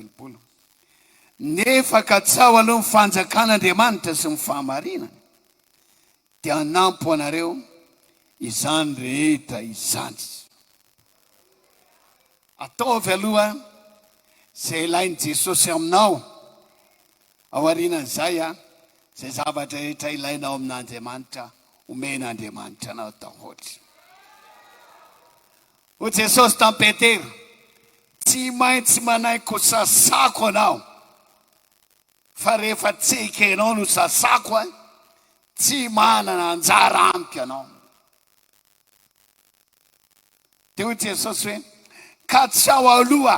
telopolo. Nefa katsaho aloha ny fanjakan'Andriamanitra sy ny fahamarinany, dia hanampo anareo izany rehetra izany. Ataovy aloha izay ilain'i Jesosy aminao, ao aorianan'izay izay zavatra rehetra ilainao amin'Andriamanitra, homen'Andriamanitra anao daholo. Hoy Jesosy tamin'i Petera, Tsy maintsy manaiky ho sasako anao, fa rehefa tsy ekenao no sasako ahy, tsy manana anjara amiko ianao. Dia hoy Jesosy hoe, Ka tsy ao aloha,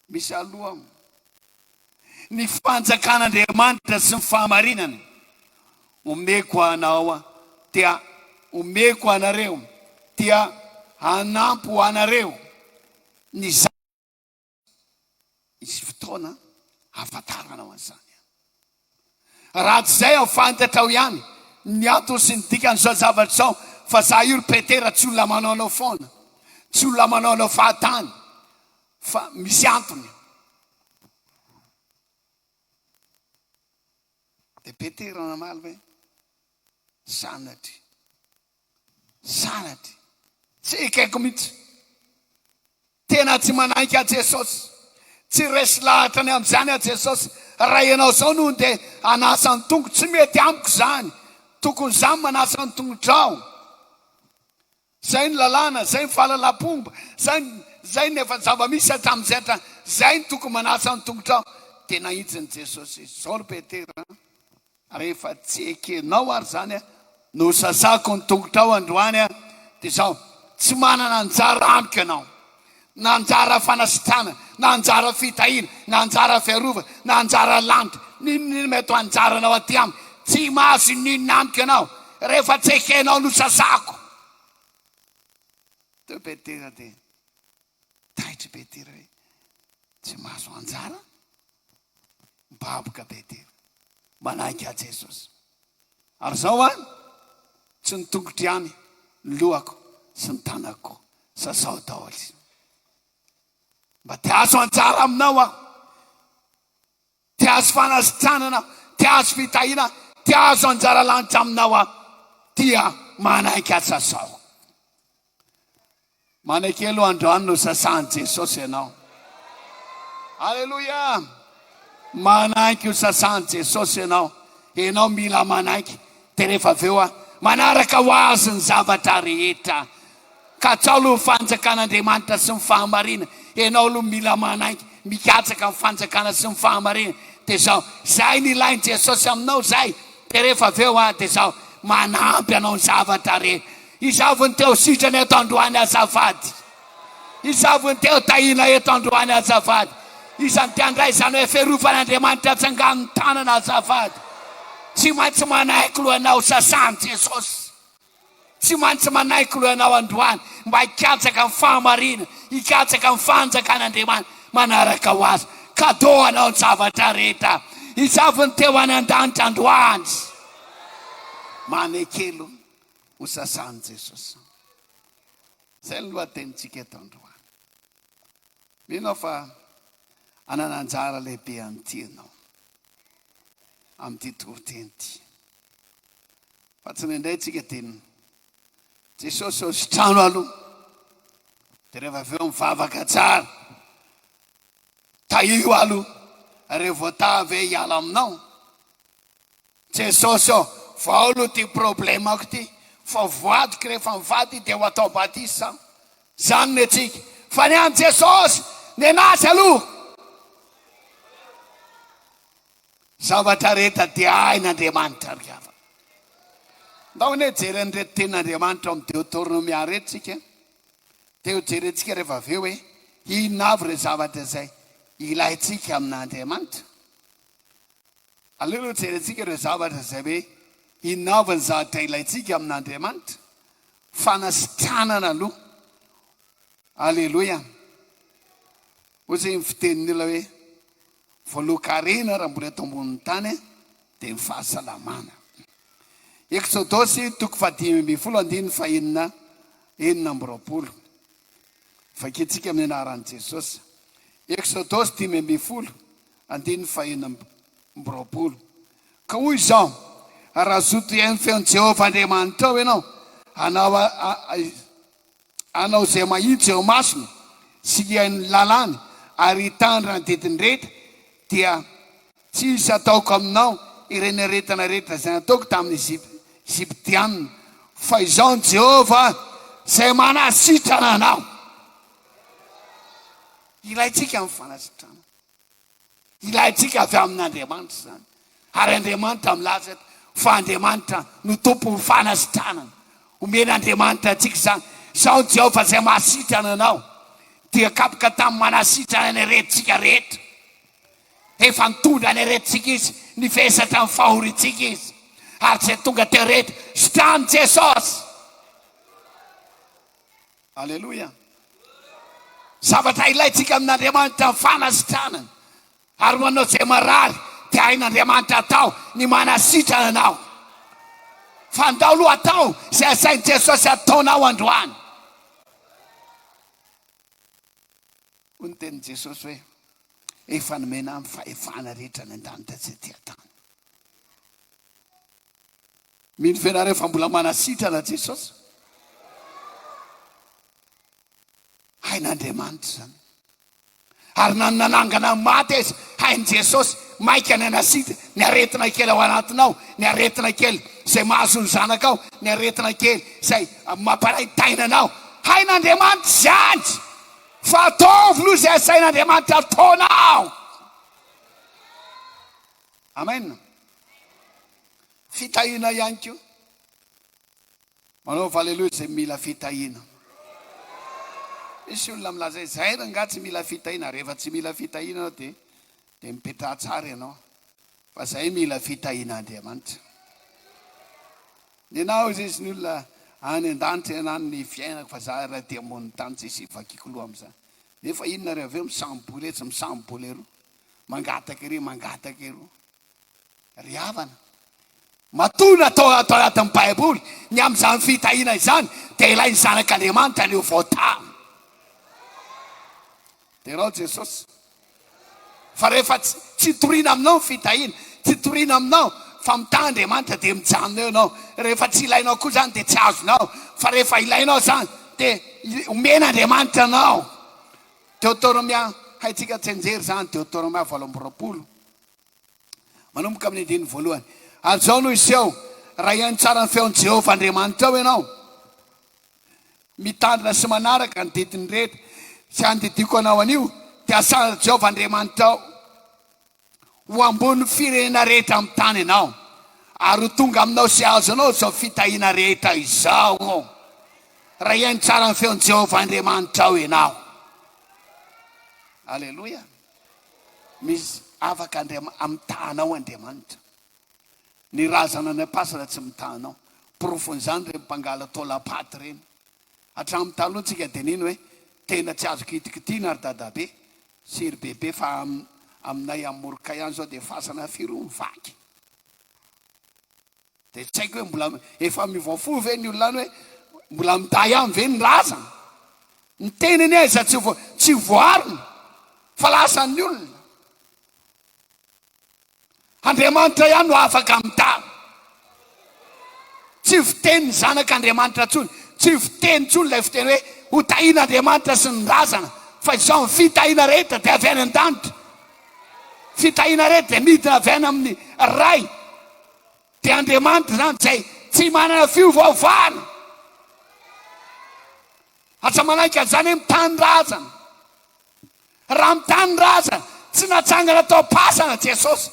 misy aloha. ny fanjakan'Andriamanitra sy ny fahamarinany. Omeko anao dia omeko anareo dia hanampy ho anareo ny za. Hisy fotoana hahafantaranao an'izany. Raha tsy izay aho fantatrao ihany ny antony sy ny dikan'izao zavatra izao fa za io ry Petera tsy olona manao anao foana, tsy olona manao anao fahatany. Fa misy antony. Dia Petera namaly hoe, Sanatria, sanatria. Tsy ekeko mihitsy. Tena tsy manaiky an'i Jesosy. Tsy resy lahatra ny amin'izany an'i Jesosy. Raha ianao izao no handeha hanasa ny tongoko, tsy mety amiko izany. Tokony izaho no manasa ny tongotrao. Izay ny lalàna, izay ny fahalalam-pomba, izay ny, izay ny efa zava-misy hatramin'izay hatrany, izay ny tokony manasa ny tongotrao. Tena izin'i Jesosy izy. Izao ry Petera an, rehefa tsy ekenao ary izany an, nosasako ny tongotrao androany an, dia izao, tsy manana anjara amiko ianao. na anjara fanasitranana, na anjara fitahiana, na anjara fiarovana, na anjara landy, n'inon'inona mety ho anjaranao aty amiko, tsy mahazo inon'inona amiko ianao, rehefa tsy ekenao no sasako. Teo Petera dia taitry Petera hoe, Tsy mahazo anjara? Mibaboka Petera, manaiky ahy Jesosy. Ary zao an, tsy ny tongotro ihany, ny lohako sy ny tanako koa, sasaho daholo izy. Mba te hahazo anjara aminao aho, te hahazo fanasitranana aho, te hahazo fitahiana aho, te hahazo anjara lanitra aminao aho, dia manaiky aho, sasaho. Manekelo ho androany nosasahan'i Jesosy ianao. Aleloia! Manaiky ho sasahan'i Jesosy ianao. Ianao mila manaiky. Dia rehefa avy eo a, manaraka ho azy ny zavatra rehetra. Katsao aloha ny fanjakan'Andriamanitra sy ny fahamarinany. Ianao aloha mila manaiky, mikatsaka ny fanjakana sy ny fahamarinany. Dia izao, izay ny ilain'i Jesosy aminao izay. Dia rehefa avy eo a, dia izao, manampy anao ny zavatra rehetra. Izavy ny teo sitrana eto androany azafady? Izavy ny teo tahiana eto androany azafady? Izany te handray izany hoe fiarofan'Andriamanitra atsangano ny tanana azafady? Tsy maintsy manaiky loha ianao sasan'i Jesosy. Tsy maintsy manaiky loha ianao androany mba hikatsaka ny fahamarinana, hikatsaka ny fanjakan'Andriamanitra manaraka ho azy. Kadô ho anao ny zavatra rehetra. Izavy ny teo any an-danitra androany. Manekelo. ho sasan'i Jesosy. Izay ny lohatenintsika eto androany. Mino aho fa hanana anjara lehibe an'ity ianao amin'ity toriteny ity. Fa tsy indraindray antsika dia Jesosy eo sy trano aloha. Dia rehefa avy eo mivavaka tsara. Tahio aloha. Rehefa voatavy hoe hiala aminao. Jesosy ô! Vao lo ty problemako ty fa voadiko rehefa mivady de ho atao badisa za. Zany ny antsika fa ny an'i Jesosy nenazy aloha. Zavatra rehetra dia hain'Andriamanitra ry havana. Ndao anie hijery an'ireto tenin'Andriamanitra ao amin'ny Deotornomia ireto tsika an. Dia ho jerentsika rehefa avy eo hoe inona avy ireo zavatra izay ilaintsika amin'Andriamanitra. Aleo aloha jerentsika ireo zavatra izay hoe inona avy ny zavatra ilaintsika amin'Andriamanitra. Fanasitranana aloha. Aleloia. Ohatry ny fitenin'ny olona hoe voalohan-karena raha mbola eto ambonin'ny tany dia ny fahasalamana. Eksodosy toko fahadimy ambin'ny folo andininy fahenina enina amby roapolo. Vakintsika amin'ny anaran'i Jesosy. Eksodosy dimy ambin'ny folo Andininy fahena amby roapolo. Ka hoy Izaho, Raha zoto hihaino ny feon'i Jehovah Andriamanitrao ianao, hanao hanao izay mahitsy eo imasony, sy hihaino ny lalàny, ary hitandrina ny didiny rehetra, dia tsy hisy hataoko aminao ireny aretina rehetra izay nataoko tamin'ny Egyptiana, fa Izaho ny Jehovah izay manasitrana anao. Ilaintsika ny fanasitrana. Ilaintsika avy amin'Andriamanitra izany, ary Andriamanitra milaza eto fa Andriamanitra no Tompon'ny fanasitranana. Omen'Andriamanitra antsika izany. Izaho ny Jehovah izay mahasitrana anao. Dia kapoka tamin'ny manasitrana ny aretintsika rehetra. Efa nitondra ny aretintsika izy, nivesatra ny fahoriantsika izy, ary izay tonga teo rehetra, sitranin'i Jesosy. Aleloia! Zavatra ilaintsika amin'Andriamanitra ny fanasitranana, ary ho anao izay marary dia hain'Andriamanitra atao ny manasitrana anao. Fandao aloha atao izay asain'i Jesosy ataonao androany. Hoy ny tenin'i Jesosy hoe, Efa nomena ahy ny fahefana rehetra any an-danitra sy aty an-tany. Mino venareo fa mbola manasitrana Jesosy? Hain'Andriamanitra izany. Ary na ny nanangana ny maty aza, hain'i Jesosy, maika ny hanasitra ny aretina kely ao anatinao, ny aretina kely izay mahazo ny zanakao, ny aretina kely izay mamparaitaina anao. Hain'Andriamanitra izany. Fa ataovy aloha izay asain'Andriamanitra ataonao. Amen. Fitahiana ihany koa. Manaova aleloia izay mila fitahiana. Misy olona milaza hoe zay rangaha tsy mila fitahiana. Rehefa tsy mila fitahiana ianao dia dia mipetraha tsara ianao. Fa zay mila fitahian'Andriamanitra. Nenao izy izy ny olona any an-danitra ianao ny fiainako fa za raha aty ambony tany tsy hisy hivakiako loha amin'izany. Nefa inona ary avy eo misambo-boletsy misambo-bolero. Mangataka ery, mangataka eroa. Ry havana, matoa natao ato anatin'ny Baiboly ny amin'izany fitahiana izany, dia ilay ny Zanak'Andriamanitra no voatany. Derao Jesosy. Fa rehefa tsy, tsy toriana aminao ny fitahiana, tsy toriana aminao fa mitaha Andriamanitra dia mijanona eo ianao. Rehefa tsy ilainao koa izany dia tsy azonao, fa rehefa ilainao izany dia omen'Andriamanitra anao. Deoterômia, Haintsika tsianjery izany, Deoterômia valo amby roapolo, manomboka amin'ny andininy voalohany. Ary izao no hiseho, raha hihaino tsara ny feon'i Jehovah Andriamanitrao ianao, mitandrina sy manaraka ny didiny rehetra izay andidiako anao anio, dia hasalan'i Jehovah Andriamanitrao. ho ambony firenena rehetra amin'ny tany ianao, ary ho tonga aminao sy hahazo anao izao fitahiana rehetra izao, raha hihaino tsara ny feon'i Jehovah Andriamanitrao ianao. Aleloia! Misy afaka Andriamanitra, mitaha anao Andriamanitra. Ny razana any am-pasana tsy mitaha anao. Porofon'izany ireny mpangala taolam-paty ireny. Hatramin'ny taloha tsika dia nino hoe tena tsy azo kitikitiana ry dadabe sy ry bebe fa aminay any Moroka ihany izao dia fasana firy hono vaky. Dia tsy haiko hoe mbola efa miovaova fo ve ny olona any hoe mbola mitahy ihany ve ny razana. Ny teny anie aiza tsy voarina fa lasan'ny olona. Andriamanitra ihany no afaka mitana. Tsy fiteny ny zanak'Andriamanitra intsony, tsy fiteny intsony ilay fiteny hoe hotahian'Andriamanitra sy ny razana, fa izao ny fitahiana rehetra dia avy any an-danitra. Fitahiana rehetra dia midina avy any amin'ny Ray. Dia Andriamanitra izany izay tsy manana fiovaovana. Aza manaiky an'izany hoe mitany razana. Raha ny tany ra aza tsy natsangana tao am-pasana Jesosy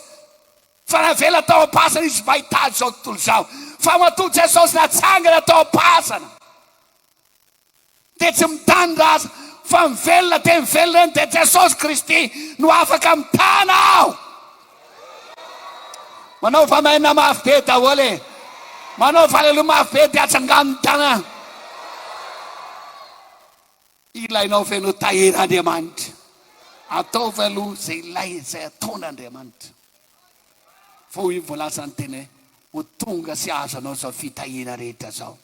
fa navela tao am-pasana izy mba hitady izao tontolo izao. Fa matoa Jesosy natsangana tao am-pasana dia tsy mitany ra aza fa mivelona dia mivelona eny dia Jesosy Kristy no afaka mitana aho. Manaova amen mafy be daholo e. Manaova aleloia mafy be dia atsangano ny tanana. Ilainao ve no tahian'Andriamanitra? Ataovy aloha izay ilaina, izay ataon'Andriamanitra. Fa hoy ny voalazan'ny teny hoe, ho tonga sy hahazo anao izao fitahiana rehetra izao.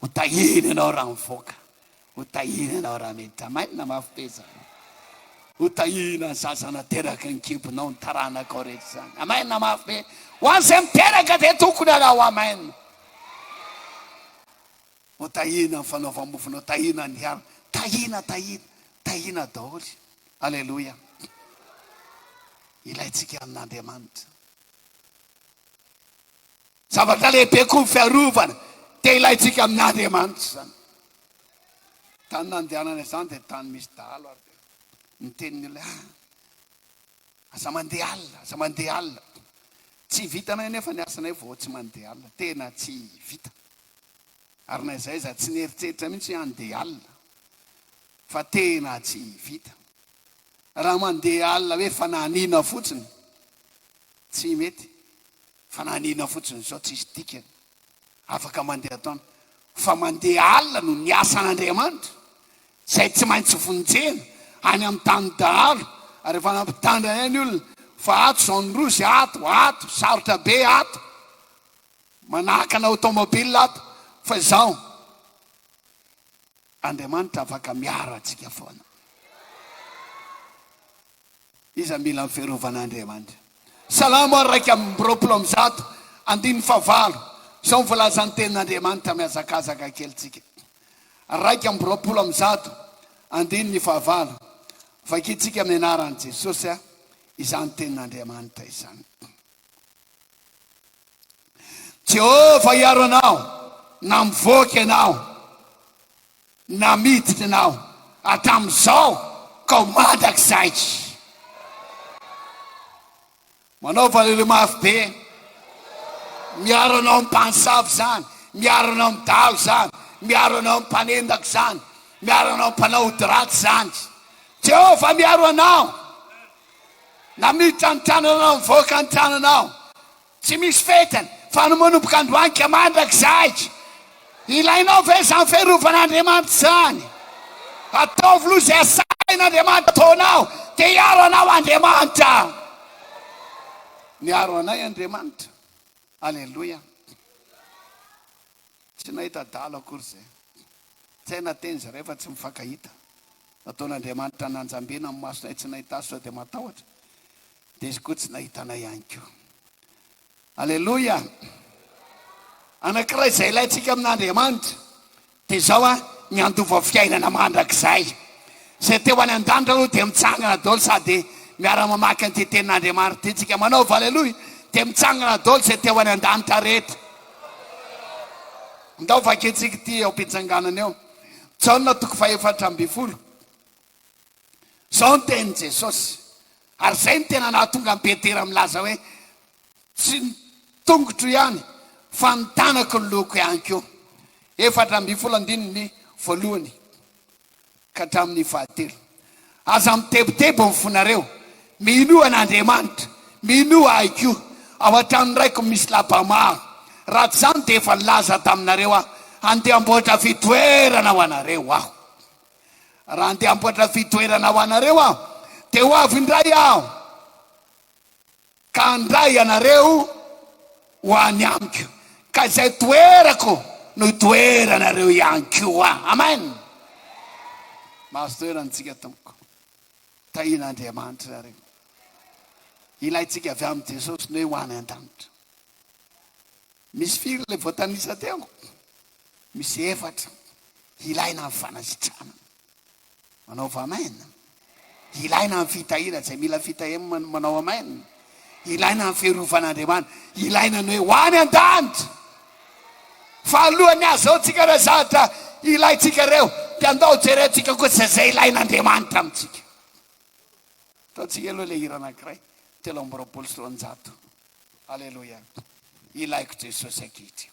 Ho tahiana ianao raha mivoaka. Ho tahiana ianao raha miditra. Mainona mafy be izany. Ho tahiana ny zaza nateraky ny kibonao, ny taranakao rehetra izany. Amen mafy be. Ho an'izay miteraka dia tokony hanao amen. Ô tahiana ny fanaovam-mofonao, tahiana ny alina, tahiana, tahiana, tahiana daholo. Aleloia. Ilaintsika amin'Andriamanitra. Zavatra lehibe koa ny fiarovana, dia ilaintsika amin'Andriamanitra izany. Tany nandehanana izany dia tany misy dahalo ary dia niteny ny olona, ah, Aza mandeha alina, aza mandeha alina. Tsy vitanay anefa ny asanay vao tsy mandeha alina. Tena tsy vita. Ary na izay aza tsy nieritreritra mihitsy hoe handeha alina. Fa tena tsy vita. Raha mandeha alina hoe fanahiniana fotsiny, tsy mety. Fanahiniana fotsiny izao tsisy dikany. afaka mandeha taona, fa mandeha alina no ny asan'Andriamanitra, izay tsy maintsy vonjena any amin'ny tany dahalo, ary efa nampitandrina anay ny olona fa ato izao ny rozy ato, ato, sarotra be ato, manahaka ny automobile ato, fa izao, Andriamanitra afaka miaro antsika foana. Iza mila ny fiarovan'Andriamanitra? Salamo iraika amby roapolo amby zato andininy fahavalo, izao no voalazan'ny tenin'Andriamanitra, mihazakazaka kely tsika. Iraika amby roapolo amby zato andininy fahavalo, vakintsika amin'ny anaran'i Jesosy izany tenin'Andriamanitra izany. Jehovah hiaro anao na mivoaka ianao. Na miditra ianao hatramin'izao kao mandrakizay. Manao valelo mafy be. Miaro anao amin'ny mpanosavy izany, miaro anao amin'ny dalo izany, miaro anao amin'ny mpanendaka izany, miaro anao amin'ny mpanao ody ratsy izany. Jehovah miaro anao. Na miditra ny tranonao, mivoaka ny tranonao. Tsy misy fetiny fa ny manomboka androany ka mandrakizay. Ilainao ve izany fiarovan'Andriamanitra izany? Ataovy aloha izay asain'Andriamanitra ataonao dia hiaro anao Andriamanitra. Niaro anay Andriamanitra. Aleloia. Tsy nahita adala akory izay. Tsy hay na teny izy iray fa tsy mifankahita. Nataon'Andriamanitra nanjambena ny masonay tsy nahita azy sao dia matahotra. Izy koa tsy nahita anay ihany koa. Aleloia! Anankiray izay ilaintsika amin'Andriamanitra dia izao a, ny handova fiainana mandrakizay. Izay te ho any an-danitra aloha dia mitsangana daholo sady miara-mamaky an'ity tenin'Andriamanitra ity tsika. Manaova aleloia dia mitsangana daholo izay te ho any an-danitra rehetra. Ndao vakintsika ity eo am-pitsanganana eo. Jaona toko fahefatra ambin'ny folo. Izao ny tenin'i Jesosy, ary izay no tena nahatonga an'i Petera milaza hoe, Tsy ny tongotro ihany, fa ny tanaky ny lohako ihany koa. Efatra ambin'ny folo andininy voalohany ka hatramin'ny fahatelo. Aza mitebiteby ny fonareo. Minoa an'Andriamanitra, minoa Ahy koa. Ao an-tranon'ny Raiko misy lapa maro. Raha tsy izany dia efa nilaza taminareo Aho, handeha hamboatra fitoerana ho anareo Aho. Raha handeha hamboatra fitoerana ho anareo aho, dia ho avy indray aho, ka handray anareo ho any amiko, ka izay toerako no hitoeranareo ihany koa. Amen! Mahazo toerana antsika, Tompoko. Tahian'Andriamanitra ianareo. Ilaintsika avy amin'i Jesosy ny hoe ho any an-danitra. Misy firy ilay voatanisa teo? Misy efatra ilaina amin'ny fanasitrana. Manaova amen. Ilaina amin'ny fitahiana, izay mila fitahiana manao amen. Ilaina amin'ny firovan'Andriamanitra. Ilaina ny hoe ho any an-danitra. Fa alohan'ny hazaontsika ireo zavatra ilaintsika ireo, dia andao jerentsika kosa izay ilain'Andriamanitra amintsika. Ataontsika aloha ilay hira anankiray, telo amby roapolo sy roanjato. Aleloia. Ilaiko Jesosy ankehitriny.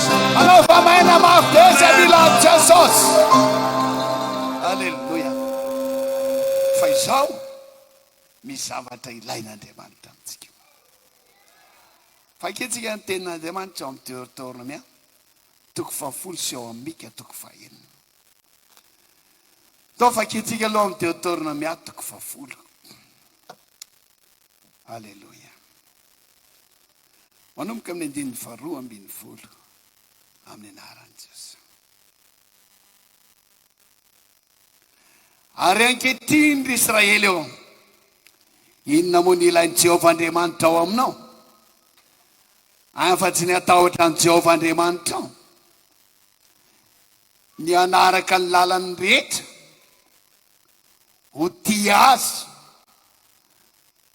Anaova maina mafy be izay mila an'i Jesosy. Aleloia. Fa izao misy zavatra ilain'Andriamanitra amintsika. Vakintsika ny tenin'Andriamanitra ao amin'ny Deuteronomia toko fahafolo sy ao amin'ny Mika toko fahenina. Atao vakintsika aloha amin'ny Deuteronomia toko fahafolo. Aleloia. manomboka amin'ny andininy faharoa ambin'ny folo amin'ny anaran'i Jesoa. Ary ankehitriny ry Israely ô, inona moa ny ilain'i Jehovah Andriamanitra ao aminao, afa-tsy ny hatahotra an'i Jehovah Andriamanitrao, ny hanaraka ny lalany rehetra, ho tia azy,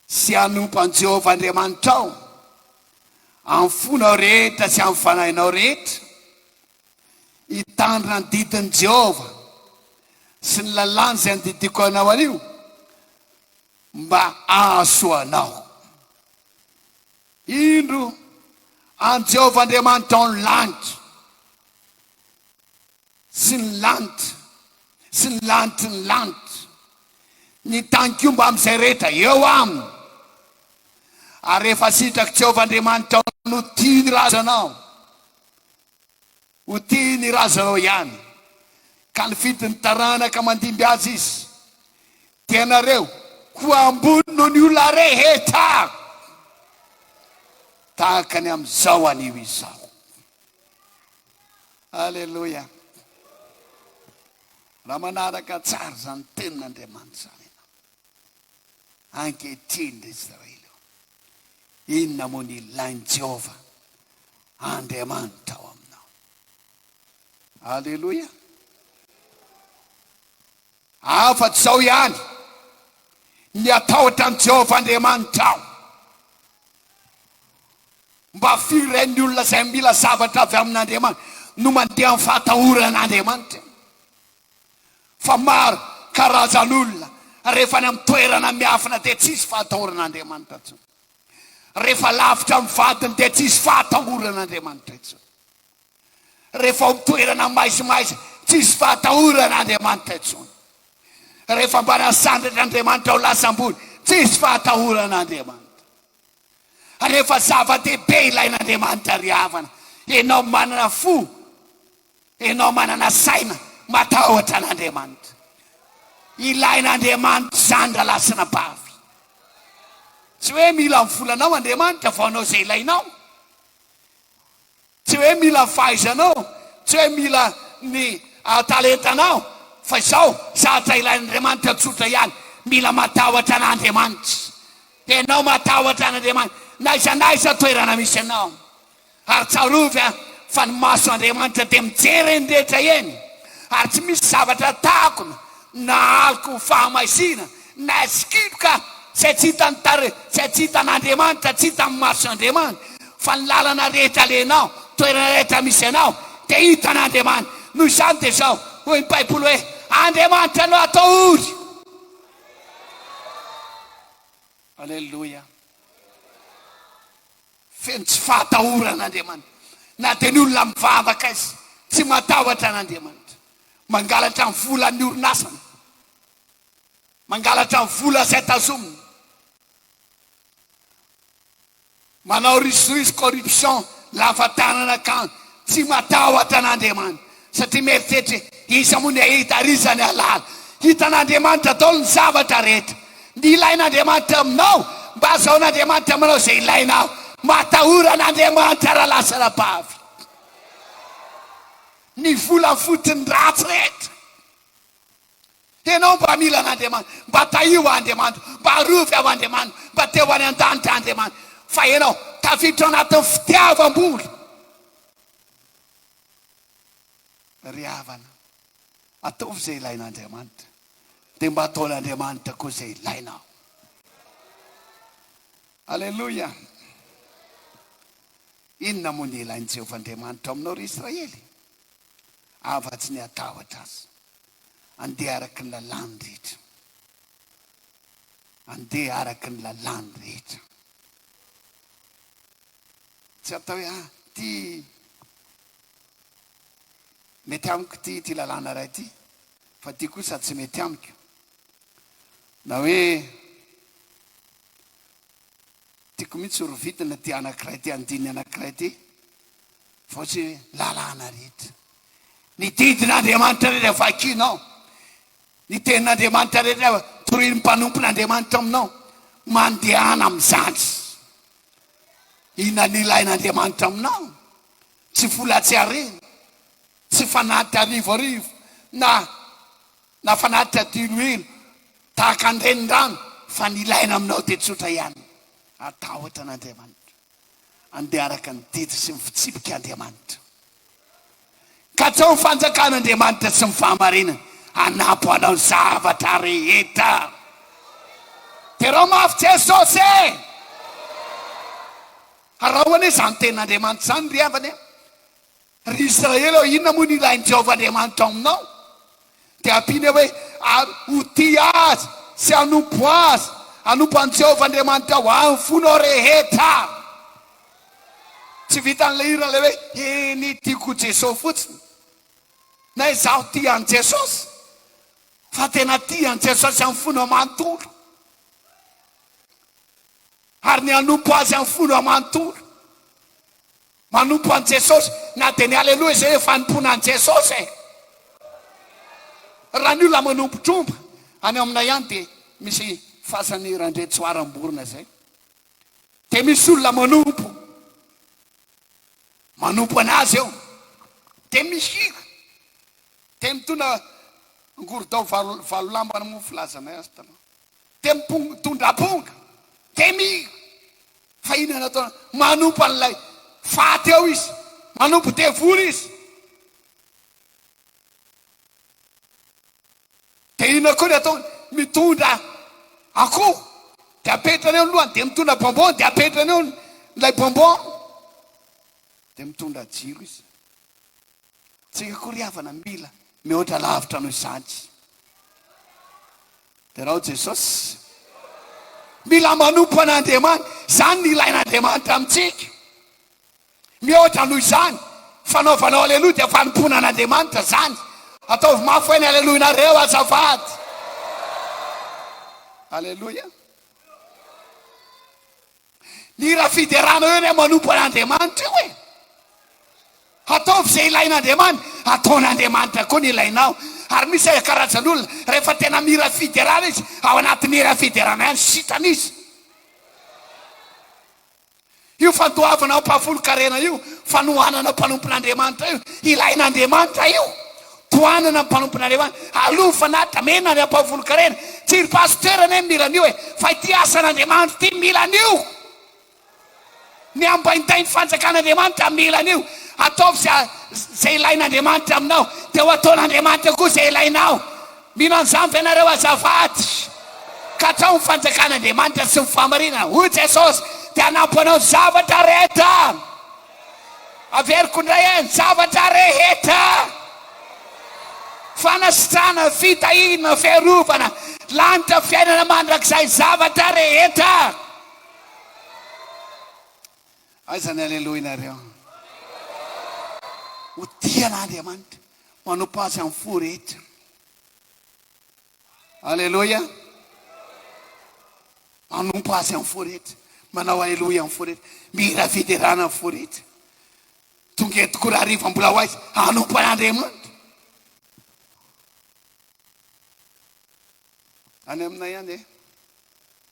Sy hanompo an'i Jehovah Andriamanitrao amin'ny fonao rehetra sy amin'ny fanahinao rehetra. Hitandrina ny didin'i Jehovah sy ny lalàny izay andidiako anao anio mba hahasoa anao. Indro, an'i Jehovah Andriamanitrao ny lanitra. sy ny lanitra sy ny lanitry ny lanitra, ny tanikomba amin'izay rehetra eo aminy. Ary rehefa sitrak'i Jehovah Andriamanitrao ny ho tia ny razanao, ho tia ny razanao ihany, ka nifidy ny taranaka mandimby azy izy, dia ianareo ho ambony noho ny olona rehetra, tahaka ny amin'izao anio izao. Aleloia. Raha manaraka tsara izany tenin'Andriamanitra izany ianao. Ankehitriny ry Israely ô, inona moa ny ilain'i Jehovah Andriamanitra ao aminao? Aleloia. Afa-tsy izao ihany, miatahotra an'i Jehovah Andriamanitrao. Mba firy indray ny olona izay mila zavatra avy amin'Andriamanitra no mandeha amin'ny fahatahoran'Andriamanitra? Fa maro karazan'olona, rehefa any amin'ny toerana miafina dia tsy hisy fahatahoran'Andriamanitra intsony. Rehefa lavitra amin'ny vadiny dia tsy hisy fahatahoran'Andriamanitra intsony. Rehefa ao amin'ny toerana maizimaiza, tsy hisy fahatahorana Andriamanitra intsony. Rehefa mba nasandratra Andriamanitra ho lasa ambony, tsy hisy fahatahorana Andriamanitra. Rehefa zava-dehibe ilain'Andriamanitra ry havana, ianao manana fo, ianao manana saina, matahotra an'Andriamanitra. Ilain'Andriamanitra izany rahalahy sy anabavy. Tsy hoe mila ny volanao Andriamanitra vao hanao izay ilainao. Tsy hoe mila fahaizanao, tsy hoe mila ny talentanao, fa izao, zavatra ilain'Andriamanitra tsotra ihany, mila matahotra an'Andriamanitra. Dia ianao matahotra an'Andriamanitra, n'aiza n'aiza toerana misy anao. Ary tsarovy an, fa ny maso Andriamanitra dia mijery eny rehetra eny, ary tsy misy zavatra takona na aloka ho fahamaizina, Na sikidy ka, izay tsy hitan'ny tarehy, izay tsy hitan'Andriamanitra, tsy hitan'ny maso Andriamanitra, fa ny lalana rehetra alehanao, toerana rehetra misy anao, dia hitan'Andriamanitra. Noho izany dia izao hoy ny Baiboly hoe, Andriamanitra no atao ory. Aleloia. Feno tsy fahatahorana Andriamanitra. Na dia ny olona mivavaka aza, tsy matahotra an'Andriamanitra. Mangalatra ny volan'ny orinasany. mangalatra ny vola izay tazominy, manao risoriso corruption lava tanana ka tsy matahotra an'Andriamanitra satria mieritreritra hoe iza moa ny hahita ary iza ny hahalala. Hitan'Andriamanitra daholo ny zavatra rehetra. Ny ilain'Andriamanitra aminao mba hazahoan'Andriamanitra aminao izay ilainao. Matahora an'Andriamanitra raha lasa anabavy. Ny vola fotony ratsy rehetra. Enao mba mila an'Andriamanitra, mba tahio Andriamanitra, mba arovy ao Andriamanitra, mba teo any an-danitra Andriamanitra, fa enao tafiditra ao anatin'ny fitiavam-bola. Ry havana, ataovy izay ilain'Andriamanitra, dia mba ataon'Andriamanitra koa izay ilainao. Aleloia! Inona moa ny ilain'i Jehovah Andriamanitra ao aminao, ry Israely? afa-tsy ny hatahotra Azy. Andeha araka ny lalàny rehetra. Andeha araka ny lalàny rehetra. Tsy atao hoe, ah, ity mety amiko ity, ity lalàna iray ity, fa ity kosa tsy mety amiko. Na hoe, tiako mihitsy ry vidina ity anankiray ity, andininy anankiray ity, Fa tsy lalàna rehetra. Ny didin'Andriamanitra rehetra vakinao, ny tenin'Andriamanitra rehetra torian'ny mpanompon'Andriamanitra aminao, mandehana amin'izany. Inona no ilain'Andriamanitra aminao? Tsy vola tsy harena, tsy fanatitra arivoarivo na na fanatitra diloilo tahaka ny renirano, fa ny ilaina aminao dia tsotra ihany, hatahotra an'Andriamanitra. Andeha araka ny didy sy ny fitsipika Andriamanitra. Katsaho ny fanjakan' Andriamanitra sy ny fahamarinany hanampy anao ny zavatra rehetra. Derao mafy Jesosy e! Araho anie izany tenin'Andriamanitra izany ry havana e! Ry Israely ô, inona moa no ilain'i Jehovah Andriamanitra aminao? Dia ampiany hoe, Ary ho tia azy sy hanompo azy, hanompo an'i Jehovah Andriamanitrao amin'ny fonao rehetra. Tsy vitan'ilay hira ilay hoe, Eny, tiako Jesosy fotsiny, na izaho tia an'i Jesosy, fa tena tia an'i Jesosy amin'ny fonao manontolo, ary ny hanompo azy amin'ny fonao manontolo. Manompo an'i Jesosy. Na dia ny Aleloia izay hoe fanompoana an'i Jesosy e! Raha ny olona manompo tromba any aminay any dia misy fasan'i Randriantsoara Amborona izay. Dia misy olona manompo, manompo an'azy eo. Dia mihira. Dia mitona angorodao valo valo lamba moa filazanay azy taloha. Tempongo, tondramponga, temira, fa inona no ataony? Manompo an'ilay faty eo izy, manompo devoly izy. Dia inona koa ny ataony? Mitondra akoho, dia apetrany eo ny lohany, dia mitondra bonbon, dia apetrany eo ilay bonbon, dia mitondra jiro izy. Tsika koa ry havana mila mihoatra lavitra noho izany. Derao Jesosy. Mila manompo an'Andriamanitra. Izany no ilain'Andriamanitra amintsika. Mihoatra noho izany. Fanaovanao aleloia dia fanompoana an'Andriamanitra izany. Ataovy mafy hoe ny aleloinareo azafady. Aleloia. Ny raha fiderana eo ny manompo an'Andriamanitra io e. Ataovy izay ilain'Andriamanitra, ataon'Andriamanitra koa ny ilainao. Ary misy e, karazan'olona, rehefa tena mira fiderana izy, ao anatin'ny hira fiderana ihany, sitrana izy. Io fandoavana ao am-pahafolon-karena io, fanohanana mpanompon'Andriamanitra io, ilain'Andriamanitra io. Tohanana ny mpanomponareo an! Aloha fanatitra mena ary ampao volon-karena! Tsy ry pasitera anie no mila an'io e! Fa ity asan'Andriamanitra ity mila an'io! Ny ambaindain'ny fanjakan'Andriamanitra mila an'io! Ataovy izay ilain'Andriamanitra aminao, dia ho ataon'Andriamanitra koa izay ilainao! Mino an'izany ve ianareo azafady? Katrao ny fanjakan'Andriamanitra sy ny fahamarinana, hoy Jesosy, dia hanampy anao ny zavatra rehetra! Averiko indray eh, ny zavatra rehetra, fanasitrana, fitahiana, fiarovana, lanitra, fiainana mandrakizay, zavatra rehetra. Aiza ny aleloinareo? Ho tia an'Andriamanitra, manompo Azy amin'ny fo rehetra. Aleloia! Manompo Azy amin'ny fo rehetra, manao Aleloia amin'ny fo rehetra, mihira fiderana amin'ny fo rehetra. Tonga eto koa raha hariva mbola ho aiza hanompo an'Andriamanitra. Any aminay any eh,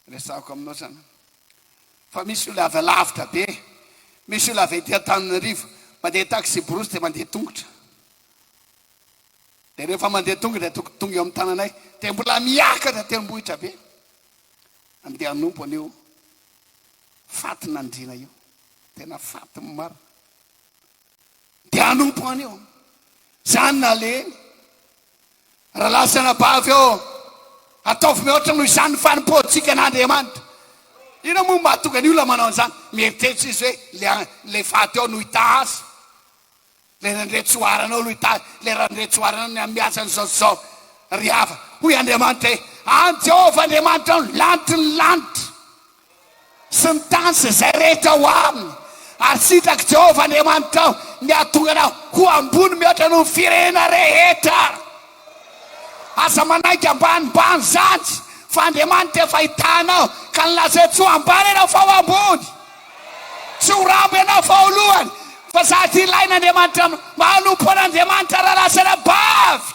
resahako aminao zany. Fa misy olona avy alavitra be, misy olona avy aty Antananarivo, mandeha taxi brousse dia mandeha tongotra. Dia rehefa mandeha tonga dia tonga tonga eo amin'ny tananay dia mbola miakatra tendrombohitra be andeha hanompo an'io fatin'andriana io tena faty marina dia hanompo an'io zany naleny raha lasana bavy eo ataovy mihoatra noho izany fanompoantsika an'andriamanitra ina moa mahatonga ny olona manao an'izany mieritreritra izy hoe le le faty eo no hita azy Leran'ireo tsoaranao aloha hitahy, leran'ireo tsoaranao ny hamihatsany izao sy izao. Ry hava, hoy Andriamanitra hoe, An'i Jehovah Andriamanitrao ny lanitry ny lanitra sy ny tany sy izay rehetra ao aminy, ary sitrak'i Jehovah Andriamanitrao ny hahatonga anao ho ambony mihoatra noho ny firenena rehetra. Aza manaiky ambanimbany zany fa Andriamanitra efa ahita anao ka ny lazao tsy ho ambany ianao fa ho ambony. Tsy ho rambo ianao fa ho lohany fa zaka ilain' Andriamanitra mba hanompo an' Andriamanitra raha lasa anabavy.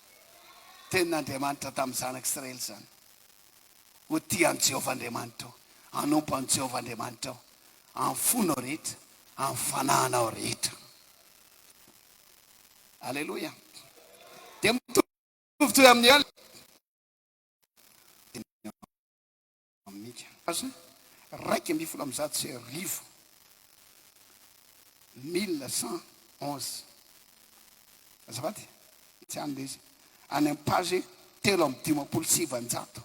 Tenin'Andriamanitra tamin'ny zanak'Israely izany. Ho tia an'i Jehovah Andriamanitrao, hanompo an'i Jehovah Andriamanitrao amin'ny fonao rehetra, amin'ny fanahinao rehetra. Aleloia! Dia mitovitovy amin'ny œil. Aminika aza, iraika ambin'ny folo amby zato sy arivo, mille cent onze, azafady, tsy any ilay izy, any amin'ny page telo amby dimampolo sy sivinjato,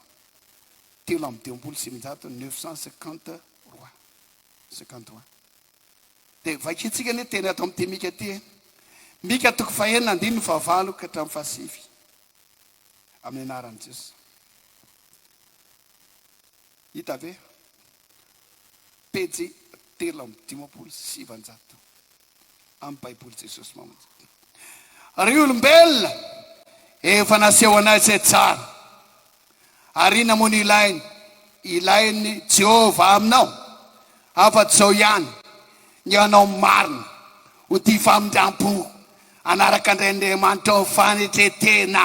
telo amby dimampolo sy sivinjato, neuf cent cinquante trois, cinquante trois. Dia vakintsika anie teny ato amin'ity Mika ity e. Mika toko fahenina andininy fahavalo ka hatramin'ny fahasivy, amin'ny anaran'i Jesoa. Hita ve? Pejy telo amby dimampolo sy sivanjato amin'ny Baiboly Jesosy Mamonjy. Ry olombelona, efa nasehonay izay tsara. Ary inona moa no ilainy? Ilain'i Jehovah aminao, afa-tsy izao ihany, ny hanao ny marina, ho tia famindram-po, hanaraka an-dRain'Andriamanitra ao amin'ny fanetren-tena.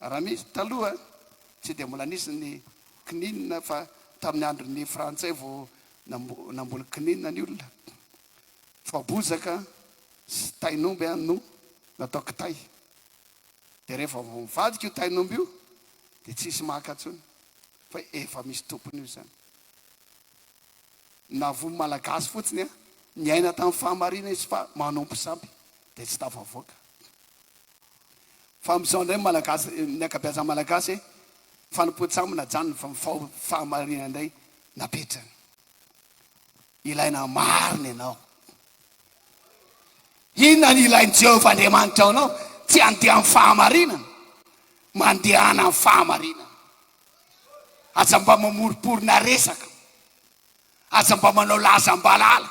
Raha nisy taloha tsy dia mbola nisy ny kininina fa tamin'ny andron'ny frantsay vao namboly kininina ny olona. Voabozaka sy tain'omby no natao kitay. Dia rehefa vao mivadika io tain'omby io dia tsisy maka intsony fa efa misy tompony io izany. Na voa malagasy fotsiny an, niaina tamin'ny fahamarinana izy fa manompo sampy dia tsy tafavoaka. Fa amzao ndray malagasy ny akabeazany malagasy fanompoantsy aminy ajanony fa mifaho fahamarina ndray napetrany ilaina marina ianao inona ny ilainy jehovah andriamanitra ao anao tsy andeha am fahamarinana mandehana am fahamarinana aza mba mamoriporina resaka aza mba manao lazambalala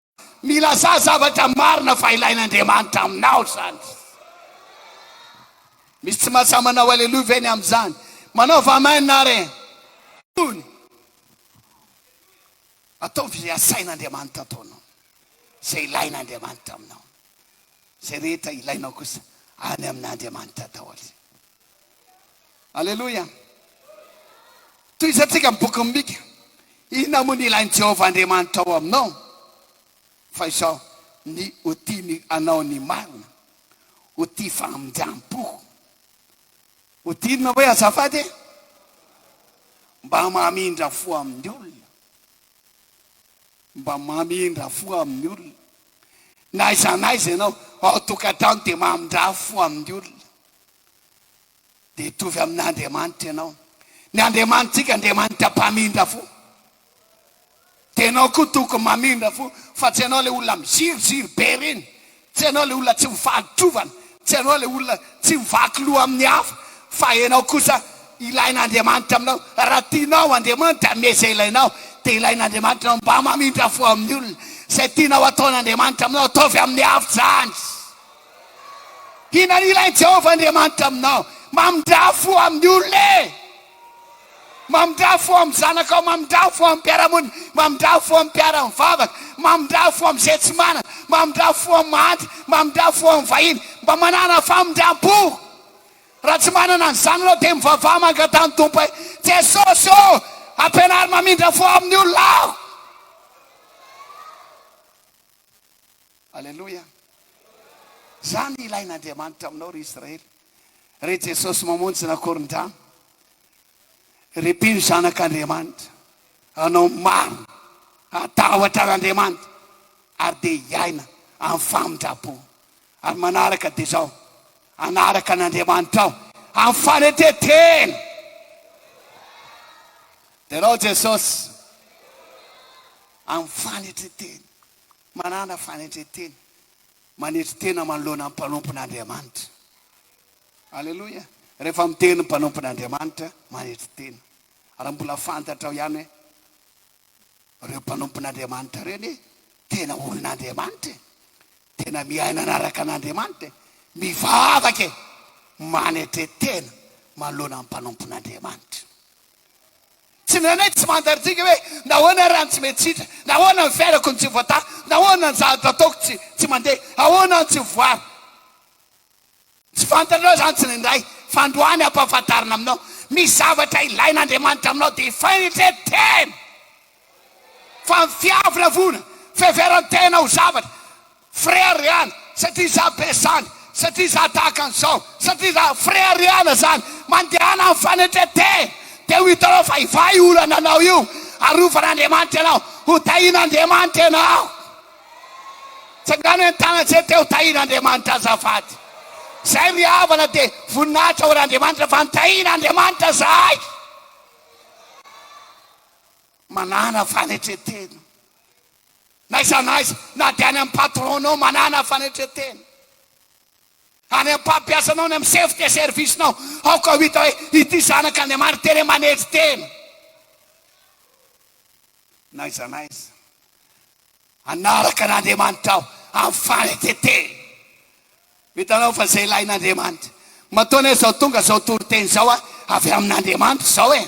Milazà zavatra marina fa ilain'Andriamanitra aminao izany. Misy tsy mahasahy manao Aleloia ve ny amin'izany? Manaova Amen ary. Tony. Ataovy izay asain'Andriamanitra ataonao, izay ilain'Andriamanitra aminao. Izay rehetra ilainao kosa, any amin'Andriamanitra daholo. Aleloia! Tohizantsika ny bokin'i Mika. Inona moa no ilain'i Jehovah Andriamanitra ao aminao fa izao, ny ho tia ny anao ny marina, ho tia famindrampò. Ho tia inona hoe azafady e? Mba mamindra fo amin'ny olona. Mba mamindra fo amin'ny olona. Na aiza na aiza ianao, ao an-tokantrano dia mamindra fo amin'ny olona. dia hitovy amin'Andriamanitra ianao. Ny Andriamanitrika, Andriamanitra mpamindra fo. Dia ianao koa tokony mamindra fo, fa tsy ianao ilay olona miziriziry be ireny, tsy ianao ilay olona tsy mivaly trovana, tsy ianao ilay olona tsy mivaky loha amin'ny hafa, fa ianao kosa ilain'Andriamanitra aminao. Raha tianao Andriamanitra hanome izay ilainao, dia ilain'Andriamanitra anao mba mamindra fo amin'ny olona. Izay tianao hataon'Andriamanitra aminao, ataovy amin'ny havitra izany. Inona no ilain'i Jehovah Andriamanitra aminao? Mamindrà fo amin'ny olona e! Mamindrà fo amin'ny zanakao, mamindrà fo amin'ny mpiara-monina, mamindrà fo amin'ny mpiara-mivavaka, mamindrà fo amin'izay tsy manana, mamindrà fo amin'ny mahantra, mamindrà fo amin'ny vahiny, mba manàna famindram-po. Raha tsy manana an'izany ianao, dia mivavaha mangataha ny Tompo hoe, Jesosy ô, ampianaro mamindra fo amin'ny olona aho! Aleloia! Zany ilain'Andriamanitra aminao ry Israely, ry Jesosy mamonjy nakorondrano, ry mpino zanak'Andriamanitra, anao maro hatahotra an'Andriamanitra ary dia hiaina amin'ny famindrampo ary manaraka dia zao, hanaraka an'Andriamanitra aho amin'ny fanetren-tena. Dia anao Jesosy. amin'ny fanetren-tena, manana fanetren-tena, manetry tena manoloana ny mpanompon'Andriamanitra. Aleloia! Rehefa miteny ny mpanompon'Andriamanitra, manetry tena. Ary mbola fantatrao ihany hoe ireo mpanompon'Andriamanitra ireo anie tena olon'Andriamanitra e, tena miaina anaraka an'Andriamanitra e, mivavaka e, manetre-tena manoloana ny mpanompon'Andriamanitra. Tsy mihaino hoe tsy mandarintsika hoe nahoana ary any tsy mety sitre, nahoana ny fiainako no tsy voataha, nahoana ny zavatra ataoko tsy tsy mandeha, ahoana no tsy voaro. Tsy fantatrao izany tsy nendray fandroany ampahafantarina aminao. Misy zavatra ilain'Andriamanitra aminao dia fainitre tena fa ny fiavina vona, fiheveran-tena ho zavatra Frère Riana, satria izaho be zany, satria izaho tahaka an'izao, satria izaho, Frère Riana izany, mandehana amin'ny fanetren-tena, dia ho hitanao fa hivaha io olana anao io, arovan'Andriamanitra ianao, ho tahin'Andriamanitra ianao. Tsangano eny Tagnanjety eny ho tahin'Andriamanitra azafady. Izay ry havana dia voninahitra ho an'Andriamanitra fa nitahin'Andriamanitra izahay. Manana fanetren-tena. N'aiza n'aiza, na dia any amin'ny patron-nao manàna fanetren-tena, any amin'ny mpampiasanao, any amin'ny chef de service-nao, aoka ho hita hoe ity zanak' Andriamanitra tena manetry tena. N'aiza n'aiza, hanaraka an' Andriamanitra aho amin'ny fanetren-tena. Hitanao fa izay ilain'Andriamanitra. Matoa anie izao tonga izao toriteny izao avy amin'Andriamanitra izao e!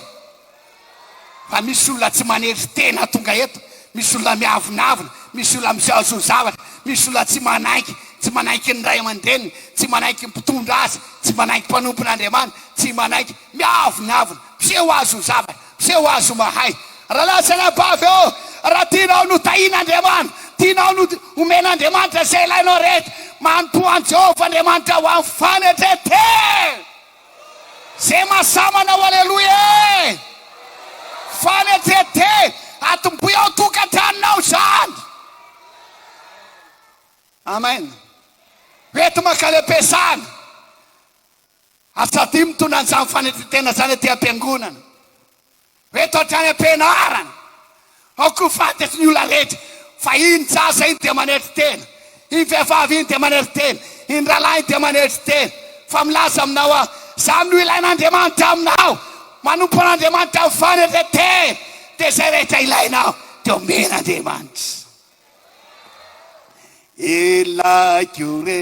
Fa misy olona tsy manetry tena tonga eto, misy olona miavonavona, misy olona misaosaosy zavatra, misy olona tsy manaiky, tsy manaiky ny ray aman-dreniny, tsy manaiky ny mpitondra azy, tsy manaiky mpanompon'Andriamanitra, tsy manaiky, miavonavona, misehoasoa zavatra. Tsy ho azo mahay. Rahalahy sy anabavy ô, raha tianao notahian'Andriamanitra, tianao nomen'Andriamanitra izay ilainao rehetra, manompoa an'i Jehovah Andriamanitra ho amin'ny fanetren-tena! Izay mahasahy manao Aleloia ee! Fanetren-tena! Atombohy ao an-tokantranonao izany! Amen! Ho enti-mankalem-piasana! Asa aty mitondra an'izany fanetren-tena izany aty am-piangonana. Eto hatrany am-pianarana. Ao koa fantatry ny olona rehetra fa iny zaza iny dia manetry tena, iny vehivavy iny dia manetry tena, iny rahalahy iny dia manetry tena. Fa milaza aminao aho, izany no ilain'Andriamanitra aminao. Manompo an'Andriamanitra amin'ny fanetren-tena, dia izay rehetra ilainao dia omen'Andriamanitra. Ilaiko re.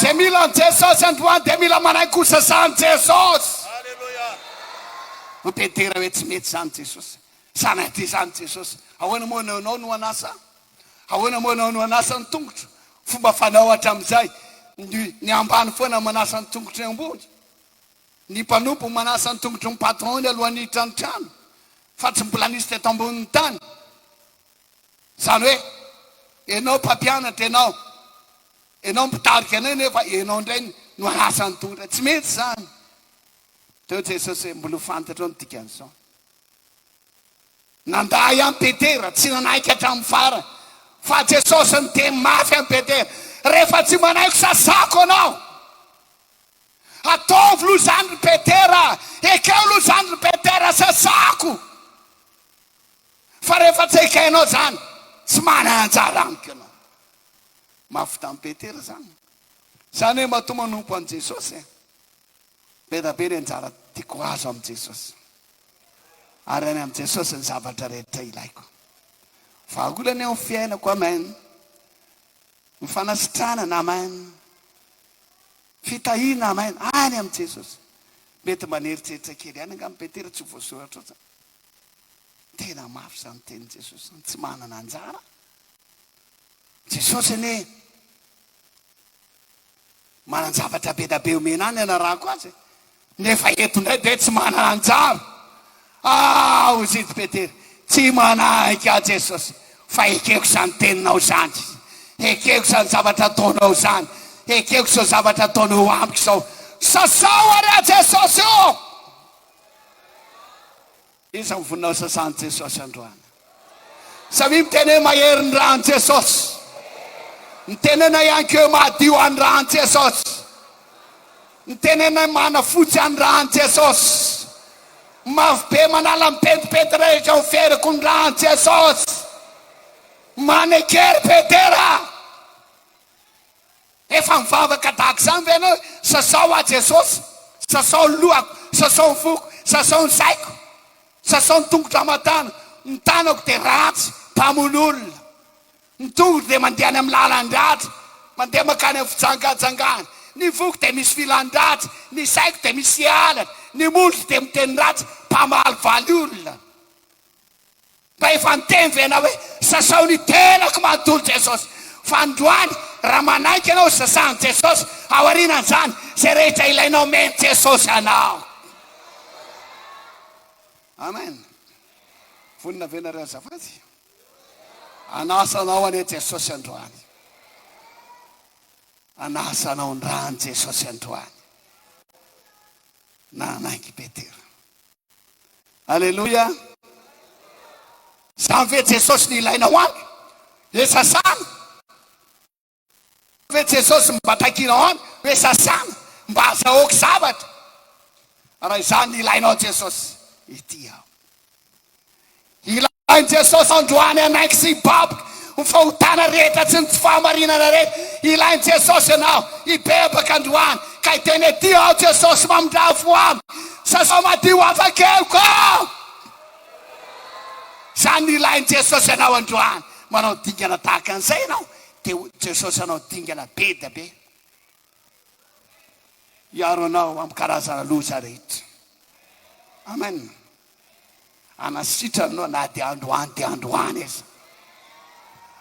Zay mila an'i Jesosy androany dia mila manaiky ho sazahan'i Jesosy. Mitentera hoe tsy mety izany Jesosy, sa na ity izany Jesosy. Ahoana moa no anao no hanasa? Ahoana moa anao no hanasa ny tongotro? Fomba fanao hatramin'izay, ny ny ambany foana manasa ny tongotry ny ambony. Ny mpanompo manasa ny tongotry ny patron-ny alohan'ny hiditra ny trano, fa tsy mbola nisy teto ambonin'ny tany. Izany hoe, ianao mpampianatra ianao, ianao mpitarika anay nefa ianao indray no hanasa ny tongotra. Tsy mety izany. Teo Jesosy hoe, Mbola ho fantatrao ny dikan'izao. Nandà ihany Petera, tsy nanaiky hatramin'ny farany. Fa Jesosy niteny mafy an'i Petera, Rehefa tsy manaiky sasako anao. Ataovy aloha izany ry Petera, ekeo aloha izany ry Petera, sasako. Fa rehefa tsy ekainao izany, tsy manana anjara amiko ianao. Mahavita an'i Petera izany. Izany hoe matoa manompo an'i Jesosy e. Be dia be ny anjara tiako hahazo amin'i Jesosy. Ary any amin'i Jesosy ny zavatra rehetra ilaiko. Vahaolana eo ny fiainako, amen. Ny fanasitranana, amen. Fitahiana, amen. Any amin'i Jesosy. Mety mba nieritreritra kely ihany angamba i Petera, tsy ho voasoratra ao izany. Tena mafy izany tenin'i Jesosy izany, tsy manana anjara Jesosy anie manan-javatra be dia be omena ahy ny hanarahako azy e, nefa eto indray dia tsy manana anjara. Ah, hoy izy Petera, tsy manahika ahy Jesosy, fa ekeko izany teninao izany izy. Ekeko izany zavatra ataonao izany, ekeko izao zavatra ataonao amiko izao. Sasao ary aho Jesosy o! Iza no voninao sasan'i Jesosy androany? Samia miteny hoe mahery ny ran'i Jesosy. Mitenena ihany koa hoe mahadio an'i ran'i Jesosy. Mitenena hoe manafotsy an'i ran'i Jesosy. Mafy be manala ny pentimpenty rehetra ho feriko ny ran'i Jesosy. Manekery Petera. Efa mivavaka tahaka izany ve ianao hoe, Sasao aho Jesosy, sasao ny lohako, sasao ny foko, sasao ny saiko, sasao ny tongotra hamatana, ny tanako dia ratsy, mpamono olona, ny tongotro dia mandeha any amin'ny lalan-dratsy, mandeha mankany amin'ny fijangajangana, ny foko dia misy filan-dratsy, ny saiko dia misy alatra, ny molotro dia miteny ratsy, mpamalivaly olona. Mba efa niteny ve ianao hoe sasao ny tenako manontolo Jesosy? Fa androany raha manaiky ianao sasahan'i Jesosy, aorianan'izany izay rehetra ilainao omen'i Jesosy anao. Amen. Vonona ve nareo azafady? Anasa anao anie Jesosy androany. Anasa anao ny rany Jesosy androany. Nanaiky Petera. Aleloia! Izany ve Jesosy no ilaina ho any? Dia sasana. Izany ve Jesosy mba takiana ho any? Dia sasana, mba azahoako zavatra. Raha izany no ilainao Jesosy, ety aho. Ilain'i Jesosy androany hanaiky sy hibaboka ny fahotana rehetra sy ny tsy fahamarinana rehetra. Ilain'i Jesosy ianao hibebaka androany ka hiteny aty aho Jesosy mamindrà fo amiko, sasao madio afakeliko aho. Izany no ilain'i Jesosy anao androany. Manao dingana tahaka an'izay ianao dia Jesosy hanao dingana be dia be. hiaro anao amin'ny karazana loza rehetra. Amen. Hanasitrana anao na dia androany dia androany aza.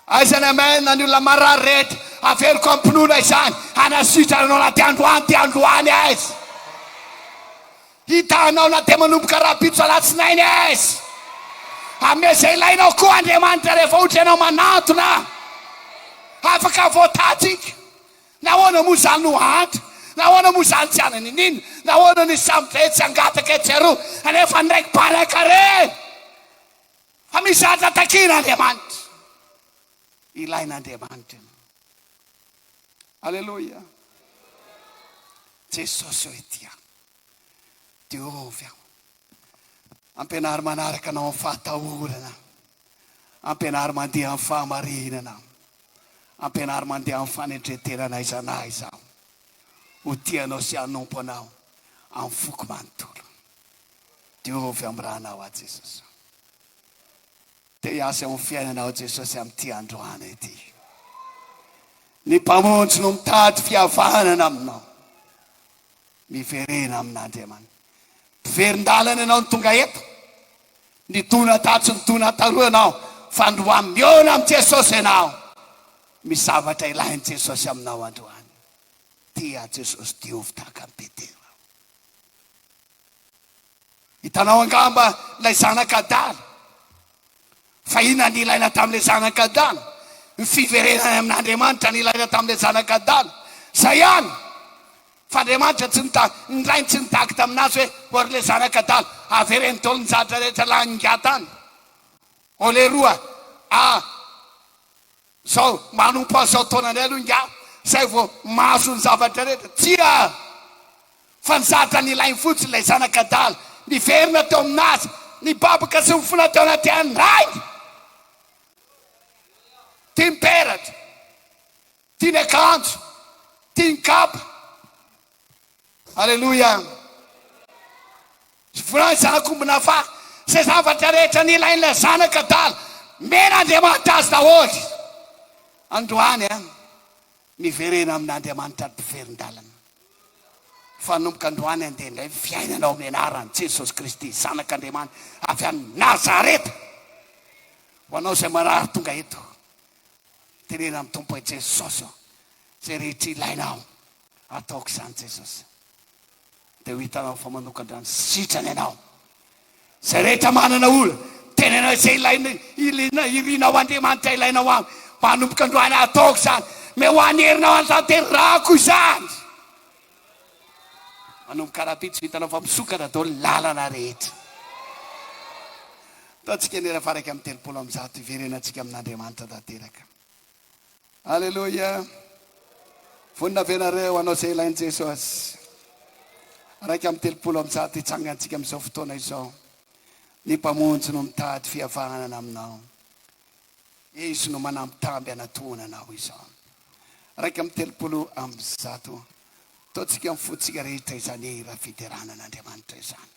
Aiza ny amen ny olona marary rehetra, averiko am-pinoana izany, hanasitrana anao na dia androany dia androany aza. Hita anao na dia manomboka rahampitso alatsinainy aza. Hanome izay ilainao koa Andriamanitra rehefa ohatra ianao manantona. Afaka voatatsika. Nahoana moa izany no hahantra? Nahoana moa izany tsy hananiniana? Nahoana ny samy ve tsy hangataka etsy aroa anefa ny raiky mpanaka re? Fa misy zatra takiana Andriamanitra. Ilaina Andriamanitra ianao. Aleloia. Jesosy ô ety aho. Diovy aho. Ampianaro manaraka Anao amin'ny fahatahorana. Ampianaro mandeha amin'ny fahamarinana. Ampianaro mandeha amin'ny fanetren-tena na aiza na aiza. Ho tia Anao sy hanompo Anao amin'ny foko manontolo. Diovy amin'ny ranao aho Jesosy. Te hiasa eo amin'ny fiainana aho Jesosy amin'ity androany ity. Ny Mpamonjy no mitady fihavanana aminao. Miverena amin'Andriamanitra. Mpiverin-dalana ianao no tonga eto. Nidona tato sy nidona taroa ianao, fa androany mihaona amin'i Jesosy ianao. Misy zavatra ilain'i Jesosy aminao androany. Tia an'i Jesosy, diovy tahaka an'i Petera. Hitanao angamba ilay zanak' adala fa inona ny ilaina tamin'ilay zanak' adala? Ny fiverenany amin' Andriamanitra no ilaina tamin'ilay zanak' adala. Izay ihany. Fa Andriamanitra tsy nita, ny Rainy tsy nitaky tamin'azy hoe, O ry le zanak' adala, avereno daholo ny zavatra rehetra laningahy tany. O leroa a! Zao manompo an'izao taonanay aloha ingahy zay vao mahazo ny zavatra rehetra. Tsia! Fa ny zatra nilainy fotsiny ilay zanak'adala niverina teo aminazy, nibabaka sy nifona teo anaty an'ny rainy. Tia ny peratra, tia ny akanjo, tia ny kapa, Aleloia! Voalazako mbola fa izay zavatra rehetra nilain'ilay Zanaka adala, omen'Andriamanitra azy daholo. Androany an, miverena amin'Andriamanitra ny mpiverin-dalana. Fanomboka androany andeha indray ny fiainana ao amin'ny anaran'i Jesosy Kristy, Zanak'Andriamanitra avy any Nazareta. Ho anao izay marary tonga eto, teneno amin'ny Tompo hoe Jesosy ô, izay rehetra ilainao Ataoko izany Jesosy dia ho hitanao fa manokan-drano sitrana ianao. Izay rehetra manana olona, tenenao izay ilainao, iliana, irinao Andriamanitra ilainao aminy. Manomboka androany aho ataoko izany. Mey ho an'ny herinao hanatanterahako izany. Manomboka rahampitso hitanao fa misokatra daholo ny lalana rehetra. Ataontsika ny ela faraka amin'ny telopolo amby zato hiverenantsika amin'Andriamanitra tanteraka. Aleloia! Vonona avenareo hanao izay ilain'i Jesosy? Iraika amby telopolo amby zato hitsangantsika amin'izao fotoana izao. Ny Mpamonjy no mitady fihavanana aminao. Izy no manambitamby hanatona anao izao. Iraika amby telopolo amby zato. Ataontsika amin'ny fontsika rehetra izany hira fiderana an'Andriamanitra izany.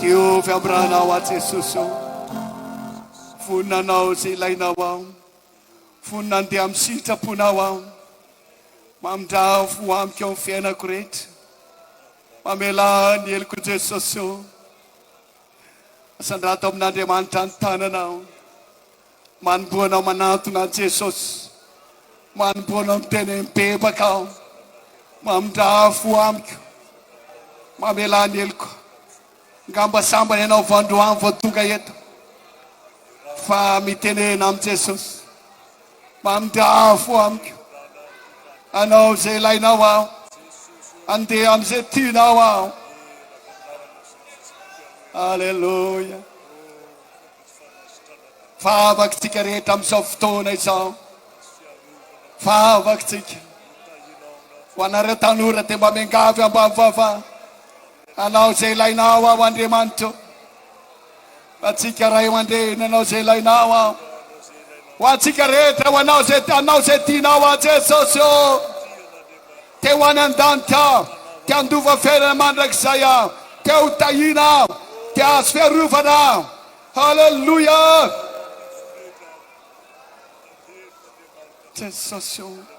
Diovy am ranao aho Jesosy o, vonona anao ze ilainao aho, vonona andeha am sitraponao aho, mamindrafo ho amiko am fiainako rehetra, mamelà ny heloko Jesosy o, asandrato amin'Andriamanitra ny tananao. Manomboha anao manantona an'i Jesosy, manomboha anao miteny mibebaka aho, mamindrà fo amiko, mamelà ny heloko. Ngamba sambany ianao vao androany vao tonga eto, fa mitenena amin'i Jesosy, mamindrà fo amiko. Anao izay ilainao aho, andeha amin'izay tianao aho. Alléluia. Fahavangintsika rehetra amin'izao fotoana izao, fahavangintsika. Ho anareo tanora dia mba miangavy ambavy vava, anao izay ilainao aho Andriamanitro. Antsika ray aman-dreny, anao izay ilainao aho. Ho antsika rehetra, ho anao izay anao izay tianao aho Jesosy ô. Te ho any an-danitra aho, te handova fiainana mandrakizay aho, te ho tahiana aho, te hahazo fiarovana aho. Haleloia! Jesosy o!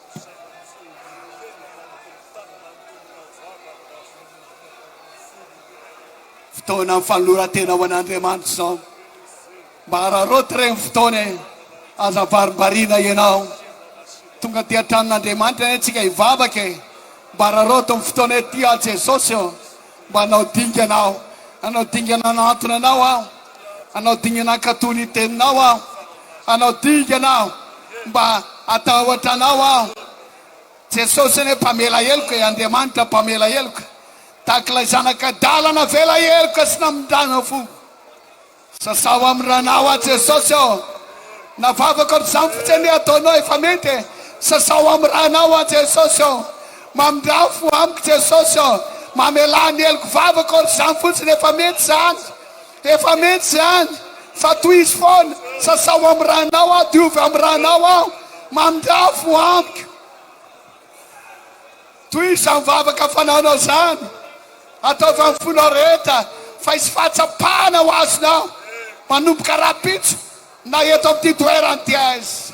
Fotoana fanoloran-tena ho an'Andriamanitra izao. Mba araraoty re ny fotoana e, aza varimbariana ianao. Tonga aty an-tranon'Andriamanitra anie tsika hivavaka e. Mba araraoty ny fotoana e, tia an'i Jesosy ô. Manao dingana aho, hanao dingana hanantona anao aho, hanao dingana hankatò ny teninao aho, hanao dingana aho mba hatahotra anao aho. Jesosy anie mpamela heloka e, Andriamanitra mpamela heloka, tak'ilay zanak'adala navela heloka sy namindrana fo. Sasaho amin'ny ranao aho Jesosy ô! Na vavako amin'izany fotsiny ny ataonao efa mety e! Sasaho amin'ny ranao aho Jesosy ô! Mamindrà ny fo amiko Jesosy ô! Mamelà ny heloko vavako ary izany fotsiny efa mety izany! Efa mety izany! Fa tohizo foana! Sasaho amin'ny ranao aho, diovy amin'ny ranao aho! Mamindrà ny fo amiko! Toy izany vavaka fanana izany, ataovy amin'ny fo nareta, fa hisy fahatsapana ho azonao manomboka rahampitso na eto amin'ity toerana ity aiza.